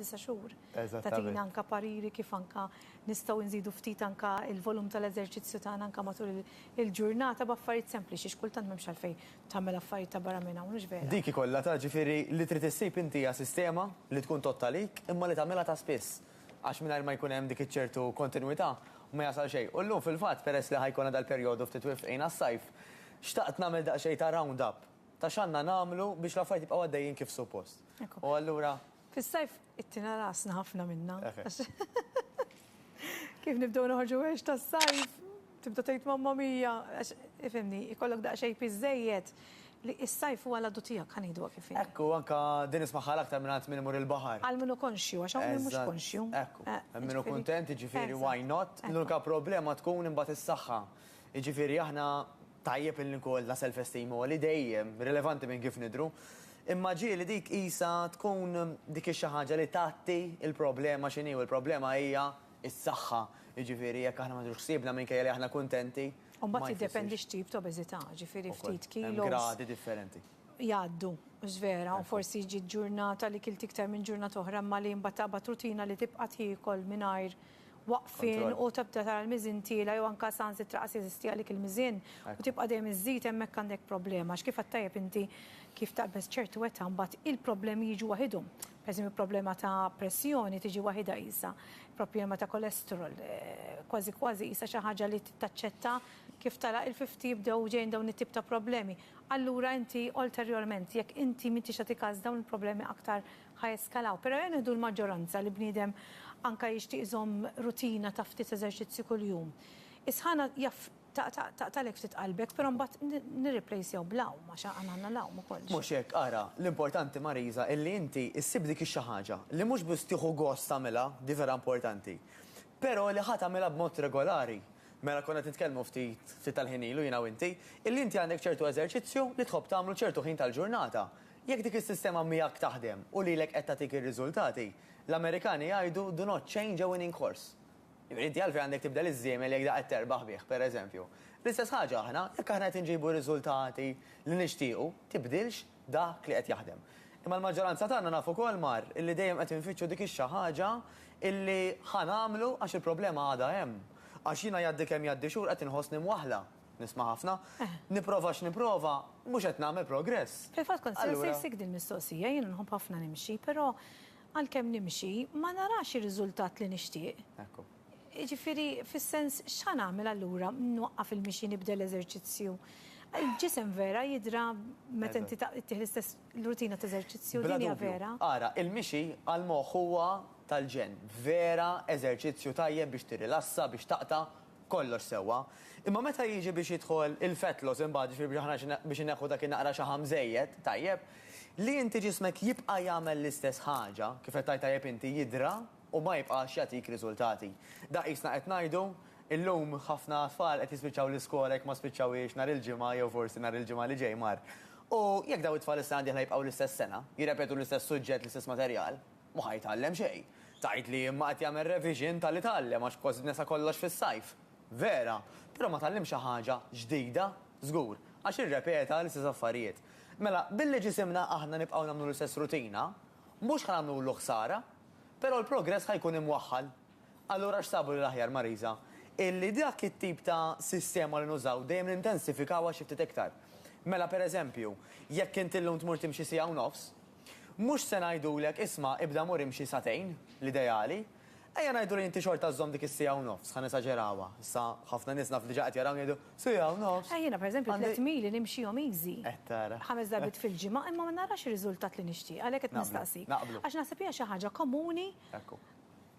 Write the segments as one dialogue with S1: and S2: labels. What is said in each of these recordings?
S1: disa' xhur. Tagħtina anke pariri kif anke nistgħu nżidu ftit anke l-volum tal-eżerċizzju tagħna anke matul il-ġurnata b'affarijiet sempliċi għax kultant m'hemmx għalfejn tagħmel affarijiet ta' barra minn hawn, hux vera? Dik hi kollha ta' ġifieri
S2: li trid issib inti hija sistema li tkun todd għalik imma li tagħmilha ta' spiss għax mingħajr ma jkun hemm dik iċ-ċertu kontinwità ma jasal xejn. U llum fil-fatt peress li ħa jkollna dal-perjodu ftit wifqin għas-sajf, xtaqt nagħmel daqsxejn ta' round up ta' x'għandna nagħmlu biex l-affarijiet jibqgħu għaddejjin kif suppost. U allura. Fis-sajf
S1: ittina rasna ħafna minna. Kif nibdew noħorġu għex tas-sajf, tibda tgħid mamma mija, għax ifimni, ikollok daqsxejn piżejjed li s-sajf huwa l-għadu tiegħek ħanidu kif inhi. Ekku, anka din
S2: ismagħha l-aktar minn għand min imur il-baħar. Għal min hu konxju, għax hawn
S1: min mhux konxju. Ekku, hemm min hu
S2: kuntent, jiġifieri why not? L-unika problema tkun imbagħad is-saħħa. Jiġifieri aħna Tajjeb illi nkollna self-esteem għoli dejjem, rilevanti minn kif nidhru. Imma ġieli dik qisha tkun dik ix-xi ħaġa li tgħatti l-problema x'inhi u l-problema hija s-saħħa. Jiġifieri jekk aħna ma nieħdux ħsiebna minkejja li aħna kuntenti, ma jfissirx. U mbagħad jiddependi
S1: x'tip ta' obeżità, jiġifieri ftit kilos. Ukoll, hemm gradi differenti.
S2: Jgħaddu,
S1: mhux vera? U forsi jiġi ġurnata li kilt iktar minn ġurnata oħra imma li mbagħad taqbad rutina li tibqa' tiekol mingħajr waqfien u tibda tara l-miżien tiela' jew anke saħansitra qas jeżisti għalik il-miżien u tibqa' dejjem iżżid hemmhekk għandek problema għax kif għedt tajjeb inti kif taqbeż ċertu età mbagħad il-problemi jiġu waħidhom. Pereżempju problema ta' pressjoni tiġi waħidha qisha, problema ta' cholesterol kważi kważi qisha xi ħaġa li taċċetta kif tara il-fifti jibdew ġejjin dawn it-tip ta' problemi. Allura inti ulterjorment jekk inti m'intix tagħti kas dawn il-problemi aktar ħa jeskalaw. Pero jew nieħdu l-maġġoranza li bniedem anka jixtieq iżomm rutina ta' ftit eżerċizzju kuljum. Is-sħana jaf taqtagħlek ftit qalbek, pero mbagħad nirriplejsjaw bl-għawm għax aħna għandna l-għawm ukoll. Mhux hekk, ara,
S2: l-importanti Marisa illi inti issib dik ix-xi ħaġa li mhux biss tieħu gost tagħmilha, di vera importanti, pero li ħa tagħmilha b'mod regolari. Mela konna qed nitkellmu ftit tal-ħin ilu jiena u inti, illi inti għandek ċertu eżerċizzju li tħobb tagħmlu ċertu ħin tal-ġurnata. Jekk dik is-sistema miegħek taħdem u lilek qed tagħtik ir-riżultati, l-Amerikani jgħidu do not change a winning horse. Jiġifieri inti għalfejn għandek tibdel iż-żiemel jekk dak qed terbaħ bih, pereżempju. L-istess ħaġa aħna, jekk aħna qed inġibu r-riżultati li nixtiequ, tibdilx dak li qed jaħdem. Imma l-maġġoranza tagħna naf ukoll mar illi dejjem qed infittxu dik ix-xi ħaġa illi ħa nagħmlu għax il-problema għadha hemm. Għax jiena jgħaddi kemm jgħaddi xhur qed inħossni mwaħħla. nisma' ħafna, nipprova x'nipprova, mhux qed nagħmel progress. Fil-fatt kont se nsaqsik
S1: dil-mistoqsija, jiena nħobb ħafna nimxi, però għalkemm nimxi, ma narax ir-riżultat li nixtieq. Ekku.
S2: Jiġifieri
S1: fis-sens x'ħa nagħmel allura, nwaqqaf il-mixi nibdel eżerċizzju? Il-ġisem vera jidhra meta inti ittieħ l-istess rutina ta' eżerċizzju, din hija vera? Ara, il-mixi
S2: għall-moħħ huwa tal-ġenn, vera eżerċizzju tajjeb biex tirrilassa, biex taqta' Kollox sewwa. Imma meta jiġi biex jidħol il-fat loss imbagħad, jiġifieri biex aħna biex inneħħu dak in-naqra xaħam żejjed, tajjeb, li inti ġismek jibqa' jagħmel l-istess ħaġa, kif qed tgħid tajjeb inti, jidra u ma jibqax jagħtik riżultati. Dak qisna qed ngħidu, illum ħafna tfal qed jispiċċaw l-iskola jekk ma spiċċawhiex nhar il-Ġimgħa jew forsi nhar il-Ġimgħa li ġej mar. U jekk dawn it-tfal is-sena d-dieħla jibqgħu l-istess sena, jirrepetu l-istess suġġett, l-istess materjal, Mhu ħa jitgħallem xejn. Tgħid li imma qed jagħmel revision ta' li tgħallem għax kosdna sa kollox fis-sajf. Vera. Però ma tgħallimx xi ħaġa ġdida. Żgur. Għax irrepeta l-istess affarijiet. Mela, billi ġisimna aħna nibqgħu nagħmlu l-istess rutina, mhux ħa nagħmlulu ħsara, però l-progress ħa jkun imwaħħal. Allura x'sabu li l-aħjar, Marisa? Illi dak it-tip ta' sistema li nużaw dejjem nintensifikawha xi ftit iktar. Mela, pereżempju, jekk int illum tmur timxi siegħa u nofs, Mhux se ngħidulek isma' ibda mur imxi sagħtejn, l-ideali. Ejja ngħidu li inti xorta żżomm dik is-siegħa u nofs, ħa nesaġerawha. Issa ħafna nies naf diġà qed jarawni jgħidu, siegħa u nofs! Eh jiena pereżempju tlett mili
S1: nimxihom easy. Eh tara. Ħames darbiet
S2: fil-ġimgħa
S1: imma ma narax ir-riżultat li nixtieq, għalhekk qed nistaqsik. Naqblu. Naqblu. Għax naħseb hija xi ħaġa komuni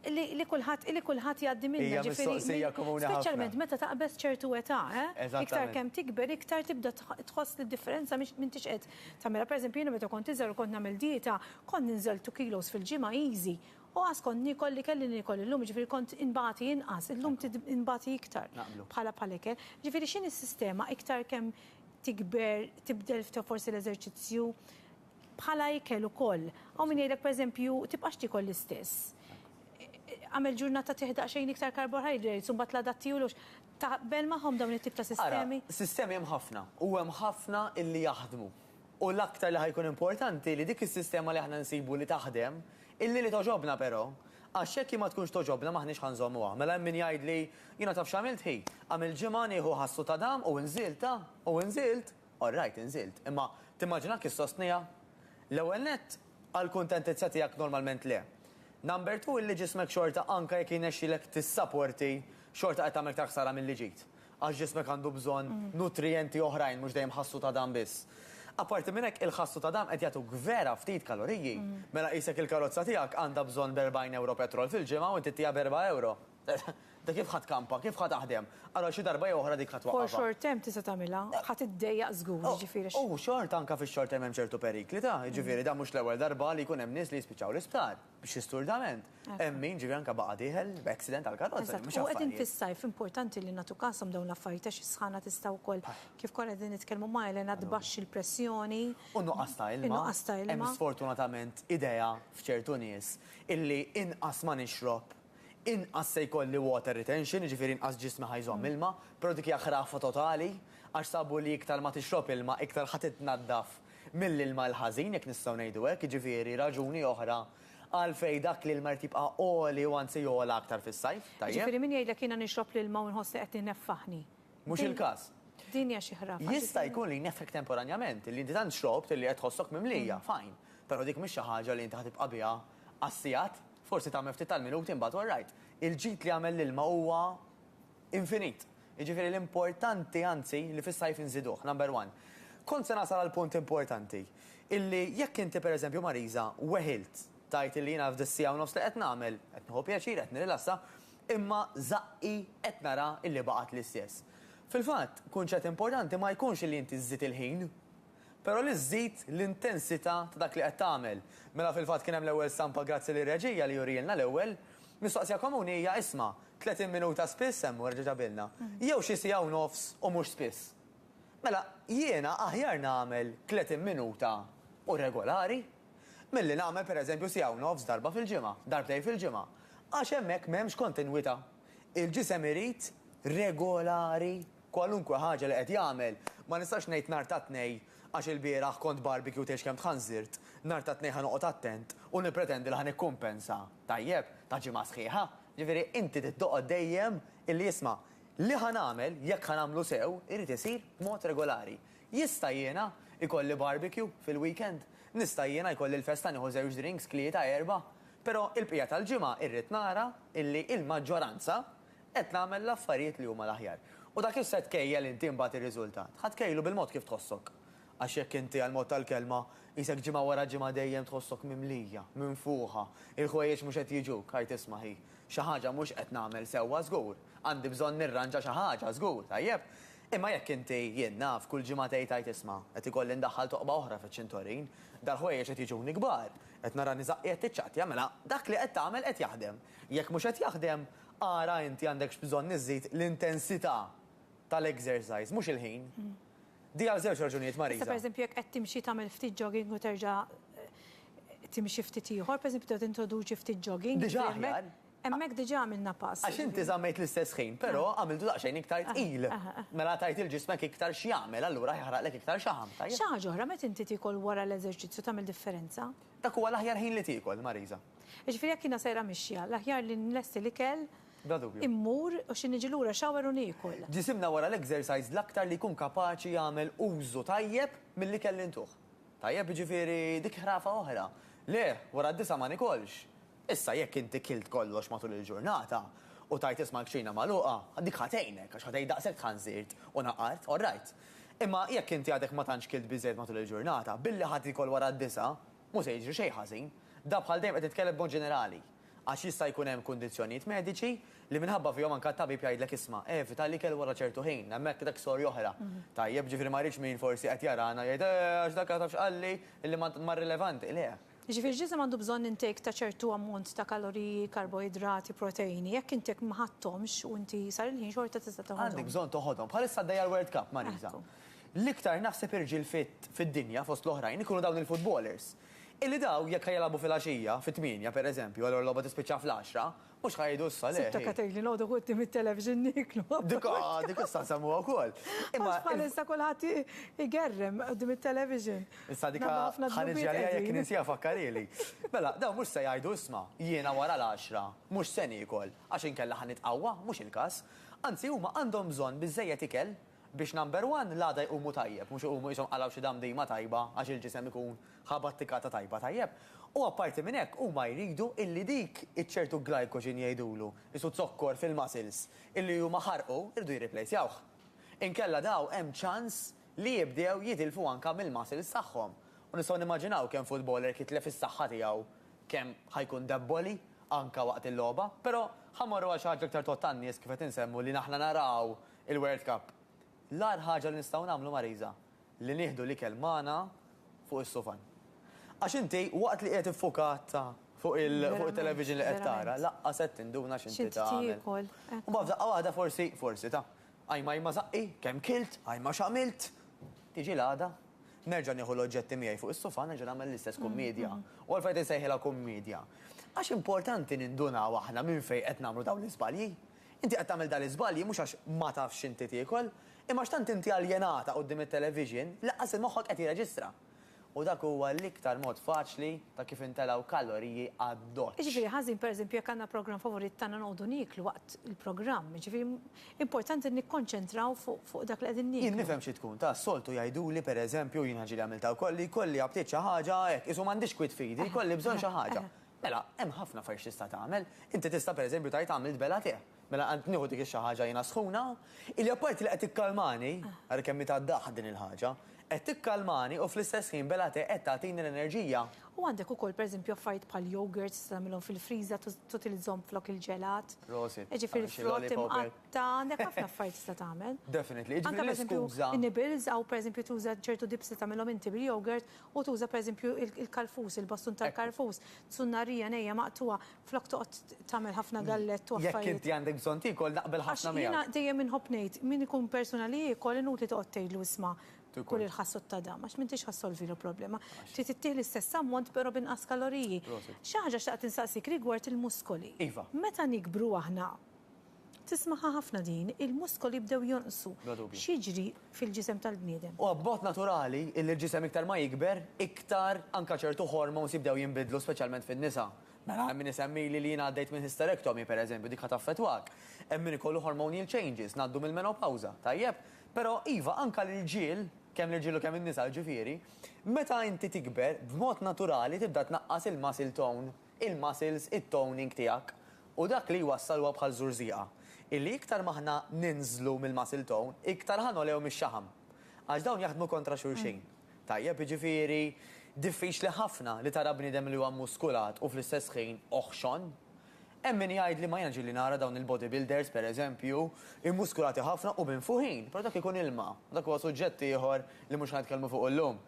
S1: li li kulħadd li kulħadd jgħaddi minnha. Hija mistoqsija komuni ħafna. Speċjalment meta taqbeż ċertu età, eh? Iktar kemm tikber, iktar tibda tħoss li d-differenza m'intix qed tagħmilha. Pereżempju jiena meta kont iżgħar u kont nagħmel dieta, kont ninżel two kilos fil-ġimgħa easy. U qas kont niekol li kelli niekol illum, jiġifieri kont inbati inqas, illum inbati iktar bħala bħal ikel. Jiġifieri x'inhi s-sistema iktar kemm tikber, tibdel forsi l-eżerċizzju, Bħala ikel ukoll. Hawn min jgħidlek pereżempju, tibqax tiekol l-istess. Agħmel ġurnata tieħ daqsxejn iktar karbohydratess u mbagħad l-għada tiehu l-għoxx. Taqbel magħhom
S2: dawn
S1: it-tip ta'
S2: sistemi? Ara, sistemi
S1: hemm
S2: ħafna u
S1: hemm
S2: ħafna
S1: li
S2: jaħdmu. U l-aktar li ħa jkun importanti li dik is-sistema li aħna nsibu li taħdem, illi li togħġobna però. Għax jekk hi ma tkunx togħġobna m'aħniex ħa nżommuha. Mela hemm min jgħidli, jiena taf x'għamilt hi? Għamilt ġimgħa nieħu ħassu ta' dam u nżilt, ta' u nżilt. All right, inżilt. Imma timmaġina kif sostniha? L-ewwel nett, għal kuntentizza tiegħek normalment le. Number two, il-li ġismek xorta anke jekk jirnexxilek tissaporti, xorta qed tagħmel iktar ħsara milli ġid. Għax ġismek għandu bżonn nutrijenti oħrajn mhux dejjem ħassu ta' dam biss. Apparti minn hekk, il-ħassu ta' dam qed jagħtuk vera ftit kaloriji. Mela qisek il-karozza tiegħek għandha bżonn b' 40 ewro petrol fil-ġimgħa u int ittiha b' erba' ewro. Inti kif ħa tkampa? Kif ħa taħdem? Allura xi darba jew oħra dik ħa twaqqafha. For short term tista'
S1: tagħmilha, ħa tiddejjaq żgur, jiġifieri x'. U xorta anke fix-short
S2: term hemm ċertu perikli ta', jiġifieri dan mhux l-ewwel darba li jkun hemm nies li jispiċċaw l-isptar b'xi sturdament. Hemm min ġifieri anke baqa' dieħel b'accident tal-karozza, li mhux affarijiet. Eżatt, u qegħdin fis-sajf
S1: importanti li nagħtu kasom dawn l-affarijiet għax is-sħana tista' wkoll, kif konna qegħdin nitkellmu ma' Elena, tbaxxi l-pressjoni. U n-nuqqas ta' ilma.
S2: In-nuqqas ta' ilma. Hemm sfortunatament idea f'ċertu nies illi inqas ma nixrob, inqas se jkolli water retention, jiġifieri inqas ġismi ħa jżomm ilma, però dik hija ħrafa totali għax sabu li iktar ma tixrob ilma iktar ħa titnaddaf mill-ilma l-ħażin, jekk nistgħu ngħidu hekk, jiġifieri raġuni oħra għalfejn dak l-ilma jrid jibqa' għoli u anzi jogħla aktar fis-sajf, tajjeb? Jiġifieri min jgħidlek jiena
S1: nixrob l-ilma u nħoss li qed ineffaħni. Mhux il-każ.
S2: Din hija xi ħrafa.
S1: Jista' jkun li jneffħek
S2: temporanjament, illi inti tant xrobt illi qed tħossok mimlija, fine, però dik mhix xi ħaġa li inti ħa tibqa' biha għas-sigħat Forsi tagħmel ftit tal-minuti imbagħad u rajt. Il-ġid li jagħmel l-ilma huwa infinit. Jiġifieri l-importanti anzi li fis-sajf inżiduh, number one. Kont se nasal għall-punt importanti, illi jekk inti per eżempju Marisa weħilt tgħid illi jiena f'dis-siegħa u nofs li qed nagħmel, qed nieħu pjaċir, qed nirrilassa, imma żaqqi qed nara illi baqgħet l-istess. Fil-fatt, kunċett importanti ma jkunx illi inti żżid il-ħin, però li żżid l-intensità ta' dak li qed tagħmel. Mela fil-fatt kien hemm l-ewwel stampa grazzi lir-reġija li jurielna l-ewwel. Mistoqsija komuni hija isma', 30 minuta spiss hemm u erġa' ġabilna, jew xi siegħa u nofs u mhux spiss? Mela jiena aħjar nagħmel 30 minuta u regolari, milli nagħmel per eżempju siegħa u nofs darba fil-ġimgħa, darbtejn fil-ġimgħa, għax hemmhekk m'hemmx kontinwità. Il-ġisem irid regolari. Kwalunkwe ħaġa li qed jagħmel, ma nistax ngħid nhar tat-Tnejn għax ilbieraħ kont barbecue tgħidx kemm tħanżirt, nhar tat-Tnejn ħa noqgħod attent u nippretendi li ħa nikkumpensa. Tajjeb, ta' ġimgħa sħiħa. Ġifieri inti trid toqgħod dejjem illi isma', li ħa nagħmel, jekk ħa nagħmlu sew, irid isir b'mod regolari. Jista' jiena jkolli barbecue fil-weekend? Nista' jiena jkolli l-festa nieħu żewġ drinks, tlieta, erbgħa? Però il-bqija tal-ġimgħa irrid nara illi il-maġġoranza Qed nagħmel l-affarijiet li huma l-aħjar. U dak li se tkejjel inti imbagħad ir-riżultat, ħa tkejjlu bil-mod kif tħossok. Għax jekk inti, għall-mod tal-kelma, qisek ġimgħa wara ġimgħa dejjem tħossok mimlija, minfuħa, il-ħwejjeġ mhux qed jiġuk, art isma' hi, xi ħaġa mhux qed nagħmel sewwa żgur, għandi bżonn nirranġa xi ħaġa żgur, tajjeb? Imma jekk inti, jien naf, kull ġimgħa tgħid art isma', qed ikolli ndaħħal toqba oħra fiċ-ċintorin, dal-ħwejjeġ qed jiġuni kbar, qed nara niżaqqi qed tiċċattja, mela dak li qed tagħmel qed jaħdem. Jekk mhux qed jaħdem, Ara inti għandekx bżonn iżżid l-intensità tal-exercise, mhux il-ħin. Di għal żewġ raġunijiet, Marisa. Issa pereżempju jekk qed timxi
S1: tagħmel ftit jogging u terġa' timxi ftit ieħor, pereżempju tibda tintroduċi ftit jogging. Diġà aħjar.
S2: Hemmhekk diġà għamilna
S1: pass. Għax inti żammejt l-istess
S2: ħin, però għamiltu daqsxejn iktar tqil. Mela tgħid lil ġismek iktar x'jagħmel, allura jeħraqlek iktar xaħam, tajjeb? Xi ħaġa oħra, meta inti
S1: tiekol wara l-eżerċizzju tagħmel differenza? Dak huwa l-aħjar
S2: ħin li tiekol, Marisa. Jiġifieri jekk jiena sejra
S1: mixja, l-aħjar li nlesti l-ikel, immur u xi niġi lura shower u niekol. Ġisimna wara l-exercise
S2: l-aktar li jkun kapaċi jagħmel użu tajjeb mill-ikel li ntuh. Tajjeb, jiġifieri dik ħrafa oħra. Le, wara d-disgħa ma nikolx. Issa jekk inti kilt kollox matul il-ġurnata u tajt isma' l-kċina magħluqa, dik ħa tgħinek għax ħa tgħid daqshekk tħann żirt u naqart, all right. Imma jekk inti għadek ma tantx kilt biżżejjed matul il-ġurnata, billi ħa tiekol wara d-disgħa, Mhu se jiġri xejn ħażin. Da bħal dejjem qed nitkellem b'mod ġenerali. Għax jista' jkun hemm kundizzjonijiet mediċi li minħabba fihom anke t-tabib jgħidlek isma', evita l-ikel wara ċertu ħin, hemmhekk dak storja oħra. Tajjeb, ġifieri ma rridx min forsi qed jarana jgħid, eh, għax dak taf x'qalli, li ma, ma rilevanti. Le. Jiġifieri ġisem għandu
S1: bżonn intake ta' ċertu ammont ta' kaloriji, karboidrati, proteini, jekk intek ma ħadthomx u inti sar il-ħin xorta tista' toħodhom. Għandek bżonn toħodhom. Bħalissa għaddejja
S2: l-World Cup, Marisa. L-iktar naħseb irġiel fit fid-dinja, fost l-oħrajn, ikunu dawn il-futbolers. Illi daw jekk ħa jilagħbu fil-għaxija, fit-tmienja, per eżempju, allura l-logħba tispiċċa fl-għaxra, mhux ħa jgħidu issa, le, ħi. Sitteka tgħidli noqogħdu quddiem
S1: it-television nieklu. Dik a, dik issa
S2: nsemmuha wkoll. Imma. Għax bħalissa
S1: kulħadd igerrem quddiem it-television. Issa dik a,
S2: ħa niġi għaliha jekk ninsiha fakkarieli. Mela, dawn mhux se jgħidu isma', jiena wara l-għaxra, mhux se niekol, għax inkella ħa nitqawwa, mhux il-każ. Anzi huma għandhom bżonn biżżejjed ikel, Biex number one l-għada jqumu tajjeb, mhux iqumu qishom qalgħu xi damdima tajba għax il-ġisem ikun ħa battikata tajba tajjeb. U apparti minn hekk huma jridu illi dik iċ-ċertu glycogen jgħidulu, qisu zokkor fil-muscles, illi huma ħarqu, jridu jirriplejsjawh. Inkella daw hemm ċans li jibdew jitilfu anka mill-muscles tagħhom. U nistgħu nimmaġinaw kemm footballer jekk jitlef is-saħħa tiegħu kemm ħa jkun debboli anka waqt il-logħba. Però ħa mmorru għal xi ħaġa iktar tgħodd għan-nies kif qed insemmu li aħna naraw Il-World Cup. L-agħar ħaġa li nistgħu nagħmlu Marisa, li nieħdu l-ikel magħna fuq is-sufan. Għax inti waqt li qiegħed iffukat fuq it-television li qed tara, laqqas qed tinduna x'inti tagħmel. U mbagħad f'daqqa waħda forsi, forsi ta', ajma ajma żaqqi, kemm kilt, ajma x'għamilt. Tiġi l-għada, nerġa' nieħu l-oġġetti miegħi fuq is-sufan, nerġa' nagħmel l-istess kummedja. U għalfejn qed insejħilha kummedja? Għax importanti nindunaw aħna minn fejn qed nagħmlu dawn l-iżbalji. Inti qed tagħmel dan l-iżbalji mhux għax ma tafx x'inti tiekol, imma għax tant inti aljenata quddiem it-television li laqqas li moħħok qed jirreġistra. U dak huwa l-iktar mod faċli ta' kif intelgħu kaloriji addoċċ. Jiġifieri ħażin pereżempju
S1: jekk għandna programm favorit tagħna noqogħdu nieklu waqt il-programm. Jiġifieri importanti nikkonċentraw fuq dak li qegħdin nieklu. Jien nifhem xi tkun ta'
S2: soltu jgħiduli pereżempju, jiena ġieli għamiltha wkoll, li jkolli aptit xi ħaġa hekk, qisu m'għandix kwiet f'idi, jkolli bżonn xi ħaġa. Mela, hemm ħafna affarijiet x'tista' tagħmel. Inti tista' pereżempju tgħid għamilt bela te. Mela qgħadt nieħu dik ix-xi ħaġa jiena sħuna, illi apparti li qed tikkalmani, ara kemm hi ta' daħq din il-ħaġa, qed tikkalmani u fl-istess ħin bela te qed tagħtini l-enerġija. U għandek ukoll
S1: pereżempju affarijiet bħal yogurts tista' tagħmilhom fil-friża tutilizzhom flok il-ġelat. Prosit. Jiġifieri frott imqatta', għandek ħafna affarijiet tista' tagħmel. Definitely. Jiġifieri l-iskuża.
S2: Anke pereżempju
S1: in-nibbles, aw pereżempju tuża ċertu dips li tagħmilhom inti bil-yogurt U tuża pereżempju il-karfus, il-bastun tal-karfus, tsunnarija, ngħejja maqtugħa, flok toqgħod tagħmel ħafna gallett u affarijiet. Jekk inti għandek bżonn tiekol,
S2: naqbel ħafna miegħek. Għax jiena dejjem inħobb ngħid,
S1: min ikun persuna li jiekol inutli toqgħod tgħidlu isma' kul il-ħassod ta' dan, għax m'intix ħa ssolvilu problema. Trid ittih l-istess ammont però b'inqas kaloriji. Xi ħaġa xtaqt insaqsik rigward il-muskoli. Iva. Meta
S2: nikbru
S1: aħna, Tismagħha ħafna din, il-muskoli jibdew jonqsu. Bla dubju. X'jiġri fil-ġisem tal-bniedem? Huwa b'mod naturali
S2: illi l-ġisem iktar ma jikber, iktar anke ċertu hormones jibdew jinbidlu speċjalment fin-nisa. Mela hemm min isemmili li jien għaddejt minn hysterectomy pereżempju, dik ħa taffettwak. Hemm min ikollu hormonial changes, ngħaddu mill-menopawża, tajjeb? Però iva, anke l-irġiel, kemm l-irġiel u kemm in-nisa jiġifieri, meta inti tikber, b'mod naturali tibda tnaqqas il-muscle tone. il-muscles, it-toning tiegħek, u dak li jwassal huwa bħal żurżieqa, illi iktar ma aħna ninżlu mill-muscle tone, iktar ħa nogħlew mix-xaħam. Għax dawn jaħdmu kontra xulxin. Tajjeb, jiġifieri diffiċli ħafna li tara bniedem li huwa mmuskulat u fl-istess ħin oħxon. Hemm min jgħidli ma jiena ġieli nara dawn il-bodybuilders, per eżempju, immuskulati ħafna u minfuħin, però dak ikun ilma, u dak huwa suġġett ieħor li mhux ħa nitkellmu fuqu llum.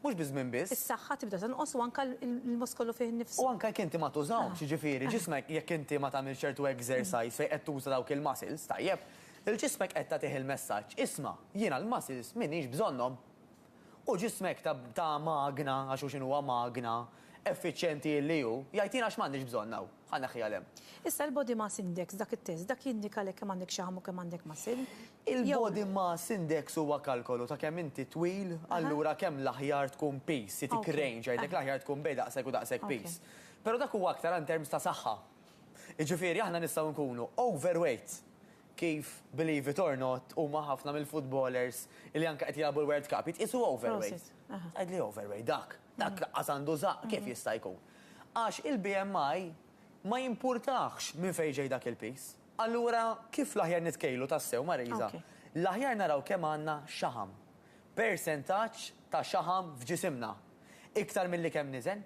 S2: Mhux biż-żmien biss. Is-saħħa tibda tonqos u
S1: anke l-muskolu fih innifsu. U anke jekk inti ma
S2: tużahomx, jiġifieri ġismek jekk inti ma tagħmilx ċertu exercise fejn qed tuża dawk il-muscles, tajjeb, il-ġismek qed tagħtih il-messaġġ, isma', jiena l-muscles m'iniex bżonnhom. U ġismek ta' ta' magna, għax hu x'inhu huwa magna, effiċjenti illi hu, jgħid jiena għax m'għandix bżonnha hu, ħa neħħiha 'l hemm. Issa l-body mass
S1: index, dak it-test, dak jindika lek kemm għandek xaħam u kemm għandek muscle. Il-Body
S2: Mass Index huwa kalkolu ta' kemm inti twil, allura kemm l-aħjar tkun piż, jagħtik range, jgħidlek l-aħjar tkun bejn daqshekk u daqshekk piż. Però dak huwa aktar in terms ta' saħħa. Jiġifieri aħna nistgħu nkunu overweight kif, believe it or not, huma ħafna mill-footballers li anke qed jilagħbu l-World Cup jitqiesu overweight. Tgħidli overweight dak, dak laqqas għandu żaqq, kif jista' jkun? Għax il-BMI ma jimpurtahx minn fejn ġej dak il-piż. Allura, kif l-aħjar nitkejlu tassew, Marisa? L-aħjar naraw kemm għandna xaħam, persentaġġ ta' xaħam f'ġisimna, iktar milli kemm niżen.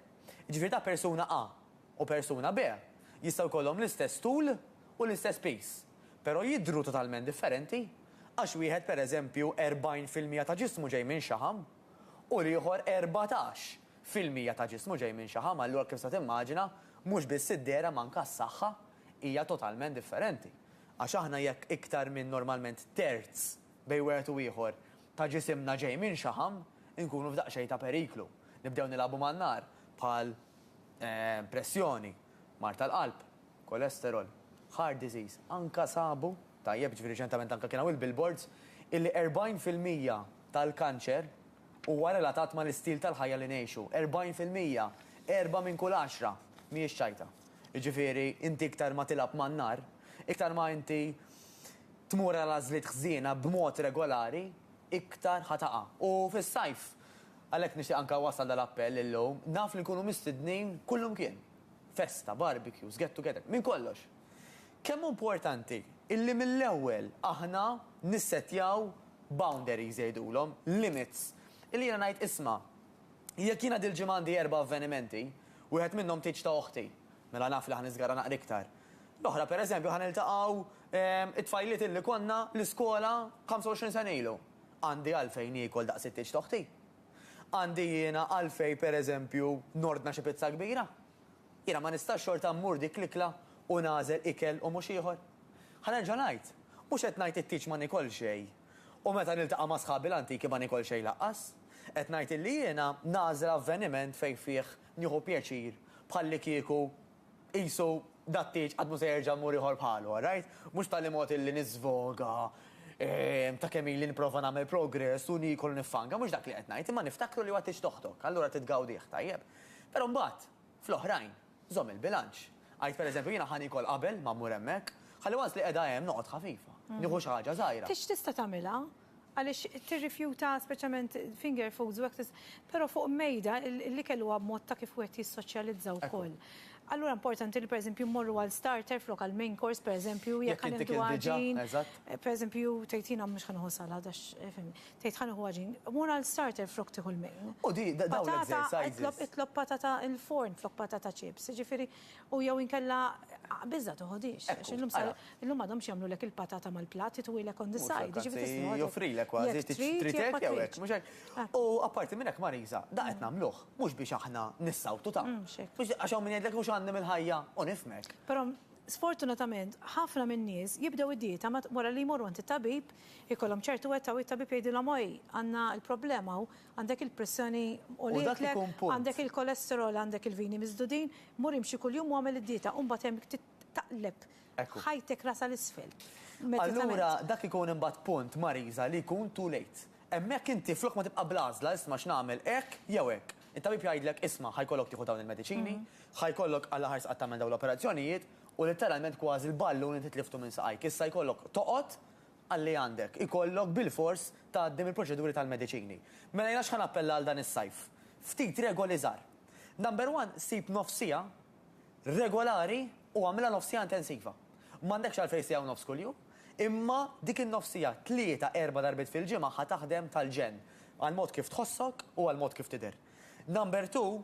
S2: Jiġifieri ta' persuna A u persuna B jistgħu jkollhom l-istess tul u l-istess piż, però jidhru totalment differenti għax wieħed pereżempju 40 fil-mija ta' ġismu ġej minn xaħam u l-ieħor erbatax fil-mija ta' ġismu ġej minn xaħam. Allura kif tista' timmaġina, mhux biss id-dehra ma anka s-saħħa hija totalment differenti. Għax aħna jekk iktar minn normalment terz, bejn wieħed u ieħor, ta' ġisimna ġej minxaħam, inkunu f'daqsxejn ta' periklu. Nibdew nilagħbu man-nar bħal, pressjoni, mard tal-qalb, cholesterol, heart disease. Anke sabu, tajjeb, jiġifieri riċentament anke kien hawn il-billboards, illi 40 fil-mija tal-kanċer huwa relatat mal-istil tal-ħajja li ngħixu. 40 fil-mija! Erbgħa minn kull għaxra mhijiex ċajta. Jiġifieri, inti iktar ma tilgħab man-nar, iktar ma inti tmur għal għażliet ħżiena b'mod regolari, iktar ħa taqa'. U fis-sajf, għalhekk nixtieq anke nwassal dal-appell illum, naf li nkunu mistednin kullumkien, festa, barbecues, get together, minn kollox. Kemm hu importanti illi mill-ewwel aħna nissettjaw boundaries jgħidulhom, limits, illi jiena ngħid isma', Jekk jiena dil-ġimgħa għandi erba' avvenimenti, wieħed minnhom tieġ ta' oħti, mela naf li ħa niżgarra naqra iktar. L-oħra, per eżempju, ħa niltaqgħu t-tfajliet illi konna l-iskola 25 sena ilu. Għandi għalfejn niekol daqs it-tieġ ta' oħti? Għandi jiena għalfejn, per eżempju, nordna xi pizza kbira? Jiena ma nistax xorta mmur dik l-ikla u nagħżel ikel u mhux ieħor? Ħa nerġa' ngħid, mhux qed ngħid it-tieġ ma niekol xejn. U meta niltaqa' ma' sħabi l-antiki ma nikol xejn laqqas. Qed ngħid illi jiena nagħżel avveniment fejn fih nieħu pjaċir bħallikieku qisu dat-tieġ qatt mhu se jerġa' mmur ieħor bħalu, għarajt? Mhux b'tali mod illi niżvoga ta' kemm ili nipprova nagħmel progress u niekol u niffanga, mhux dak li qed ngħid, imma niftakru li huwa tieġ t'oħtok, allura trid tgawdih, tajjeb? Però mbagħad. fl-oħrajn, żomm il-bilanċ. Għidt per eżempju, jiena ħa niekol qabel ma mmur hemmhekk, ħalli once li qiegħda hemm noqgħod ħafifa, nieħu xi ħaġa żgħira. Tista' tagħmilha,
S1: għaliex tirrifjuta speċjalment finger foods u hekk, però fuq mejda l-ikel huwa mod ta' kif wieħed jissoċjalizza wkoll. Allura importanti li per eżempju mmorru għal starter flok għal main course per eżempju, jekk ħa nieħdu għaġin, per eżempju tgħid jiena mhux ħa nieħu salad għax, fimni. Tgħid ħa nieħu għaġin. Mur għal starter flok tieħu l-main. U di, da, dawn l-exercises.
S2: Patata, itlob, itlob patata
S1: il-forn flok patata chips. Jiġifieri, u jew inkella, biża' toħodhiex. Għax illum sa, illum m'għadhomx jagħmlulek il-patata mal-platt, ituwilek on the side. Mhux hekk, anzi, joffrilek kważi,
S2: trid hekk jew hekk, mhux hekk? U apparti minn hekk, Marisa, da qed nagħmluh, mhux biex aħna nissawtu ta'. Mhux hekk. Biex, għax hawn min jgħidlek mhux għandi mill-ħajja, u nifhmek. Però,
S1: sfortunatament, ħafna min-nies jibdew id-dieta ma, wara li jmorru għand it-tabib, Ikollhom ċertu wetta u it-tabib jgħidilhom oj, għandna l-problema hawn, għandek il-pressjoni għolitlek, għandek il-kolesterol, għandek il-vini miżdudin, mur imxi kuljum u agħmel id-dieta u mbagħad hemm taqleb ħajtek rasha 'l isfel. Allura
S2: dak ikun imbagħad punt, Marisa, li jkun too late. Hemmhekk inti flok ma tibqa' bl-għażla isma' x'nagħmel hekk jew hekk. It-tabib jgħidlek isma' ħa jkollok tieħu dawn il-mediċini, ħa jkollok għall-aħħar sqatt tagħmel dawn l-operazzjonijiet U litteralment kważi l-ballun inti tliftu minn saqajk. Issa jkollok toqgħod għalli għandek. Ikollok bilfors tgħaddi mill-proċeduri tal-mediċini. Mela jiena x'ħa nappella għal dan is-sajf? Ftit regoli żgħar. Number one, sib nofs siegħa regolari u agħmilha nofs siegħa intensiva. M'għandekx għalfejn siegħa u nofs kuljum, imma dik in-nofs siegħa tlieta, erba' darbiet fil-ġimgħa ħa taħdem tal-ġenn għall-mod kif tħossok u għall-mod kif tidher. Number two,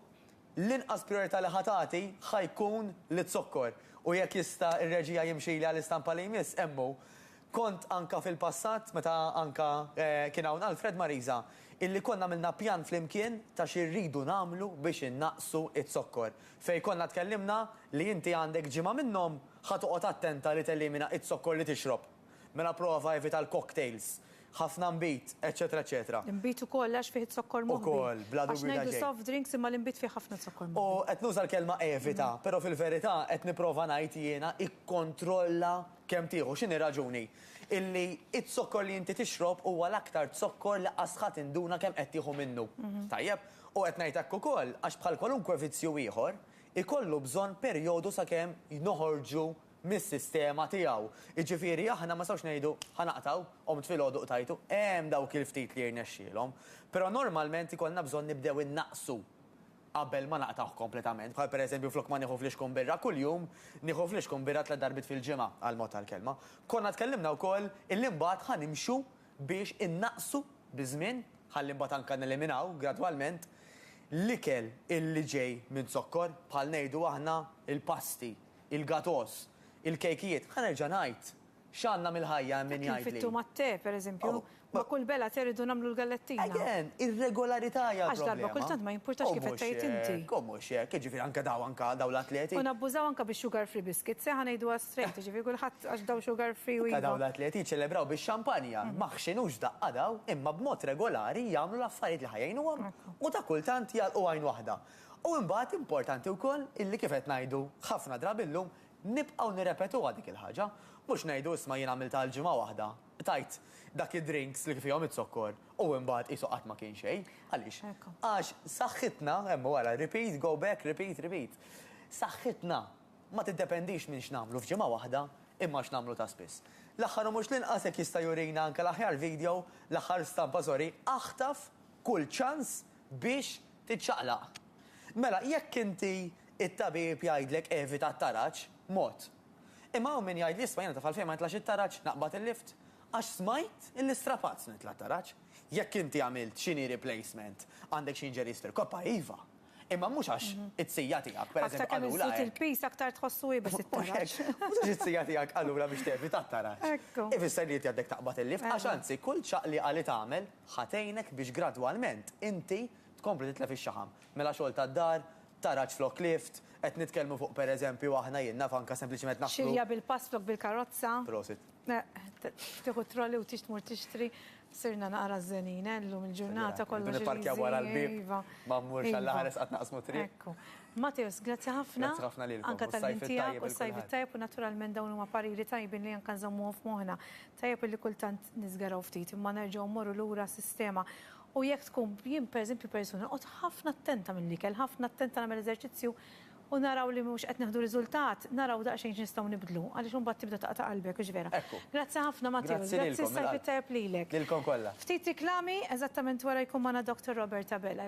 S2: L-inqas prijorità li ħa tagħti ħa jkun liz-zokkor u jekk jista' r-reġija jimxili għall-istampa li jmiss hemm hu. Kont anka fil-passat, meta anka kien hawn Alfred Marisa, illi konna għamilna pjan flimkien ta' xi rridu nagħmlu biex innaqqsu z-zokkor. Fejn konna tkellimna li inti għandek ġimgħa minnhom ħa toqgħod attenta li telimina z-zokkor li tixrob. Mela prova evita l-cocktails, ħafna nbid, eċċetera eċċetera. L-inbid ukoll għax fih
S1: iż-zokkor moħbi. Ukoll, bla dubju ta' xejn. Għax ngħidu
S2: soft drinks imma
S1: l-inbid fih ħafna zokkor moħbi. U qed nuża l-kelma
S2: evita, però fil-verità qed nipprova ngħid jiena ikkontrolla kemm tieħu. X'inhi raġuni? Illi z-zokkor li inti tixrob huwa l-aktar zokkor li qas ħa tinduna kemm qed tieħu minnu. Tajjeb? U qed ngħid hekk ukoll għax bħal kwalunkwe vizzju ieħor, ikollu bżonn perjodu sakemm noħorġu mis-sistema tiegħu. Jiġifieri aħna ma nistgħux ngħidu ħa naqtgħu, qomt filgħodu qtajtu, hemm dawk il-ftit li jirnexxielhom. Però normalment ikollna bżonn nibdew innaqsu qabel ma naqtgħuh kompletament. Bħal pereżempju flok ma nieħu flixkun birra kuljum, nieħu flixkun birra tliet darbiet fil-ġimgħa, għall-mod tal-kelma. Konna tkellimna wkoll illi mbagħad ħa nimxu biex innaqsu biż-żmien, ħalli mbagħad anke neliminaw gradwalment l-ikel illi ġej minn zokkor, bħal ngħidu aħna l-pasti, il-gatos, il-kejkijiet, ħa nerġa' ngħid, x'għandna mill-ħajja hemm min jgħidli. Kif it-tum għat-te, per eżempju,
S1: ma' kull bela te rridu nagħmlu l-gallettina. Again, ir-regolarità
S2: hija l-problema. Għax darba kultant ma
S1: jimpurtax kif qed tgħid inti. U mhux hekk, jiġifieri
S2: anke dawn anke dawn l-atleti. U nabbużaw anke bis-sugar
S1: free biscuits, eh, ħa ngħiduha straight, jiġifieri kulħadd għax dawn sugar free u iva. Anke dawn l-atleti jiċċelebraw
S2: bix-xampanja, ma ħxinux daqqa dawn, imma b'mod regolari jagħmlu l-affarijiet li ħa jgħinuhom u ta' kultant jagħlqu għajn waħda. U imbagħad importanti wkoll illi kif qed ngħidu ħafna drabi llum, nibqgħu nirrepetuha dik il-ħaġa. Mhux ngħidu isma' jien għamiltha għal ġimgħa waħda, tajt dak id-drinks li fihom iz-zokkor u imbagħad qisu qatt ma kien xejn. Għaliex? Għax saħħitna, hemm wara, repeat, go back, repeat, repeat. Saħħitna ma tiddependix minn x'nagħmlu f'ġimgħa waħda imma x'nagħmlu ta' spiss. L-aħħar u mhux l-inqas jekk jista' jurina anke l-aħjar video, l-aħħar stampa sorry, aħtaf kull ċans, biex tiċċaqlaq. Mela, jekk inti t-tabib jgħidlek evita t-taraġ, mod. Imma hawn min jgħidli isma' jiena ta' f'għalfejn ma nitlax it-taraġ, naqbad il-lift, għax smajt illi strapat se nitla' t-taraġ. Jekk inti għamilt xi knee replacement, għandek xi injuries fil-koppa, iva. Imma mhux għax it-sija tiegħek, pereżempju, qalulha hekk. Aktar kemm iżżid il-piż, aktar
S1: tħossu iebes it-taraġ. Mhux għax it-sija
S2: tiegħek qalulha biex tevita t-taraġ. Ifisser li inti għandek taqbad il-lift, għax anzi, kull ċaqliqa li tagħmel, Ħa tgħinek biex gradwalment inti tkompli titlef ix-xaħam. Mela xogħol tad-dar, taraġ flok lift, qed nitkellmu fuq pereżempju aħna jien naf anke sempliċement naħslu. Xirja bil-pass flok
S1: bil-karozza. Prosit.
S2: Tieħu
S1: t-trolley u tix tmur tixtri. Sirna naqra żenin eh llum il-ġurnata kollox irid iżid. Irridu nipparkjaw wara l-bieb
S2: ma mmurx għall-aħħar isqatt naqsmu t-triq. Ekku. Matthews, grazzi
S1: ħafna. Grazzi ħafna lilkom. Anke tal-ħin
S2: tiegħek u s-Sajf
S1: it-Tajjeb u s-Sajf it-Tajjeb u naturalment dawn huma pariri tajbin li anke nżommuhom f'moħħna. Tajjeb illi kultant niżgaraw ftit imma nerġgħu mmorru lura għas-sistema. U jekk tkun, jien pereżempju persuna noqgħod ħafna attenta mill-ikel, ħafna attenta nagħmel eżerċizzju u naraw li mhux qed nieħdu riżultat, naraw daqsxejn x'nistgħu nibdlu, għaliex imbagħad tibda taqta' qalbek, hux vera? Grazzi ħafna Matteus, grazzi s-Sajf it-Tajjeb lilek. Ftit riklami, eżattament wara jkun magħna Doctor Robert Abela.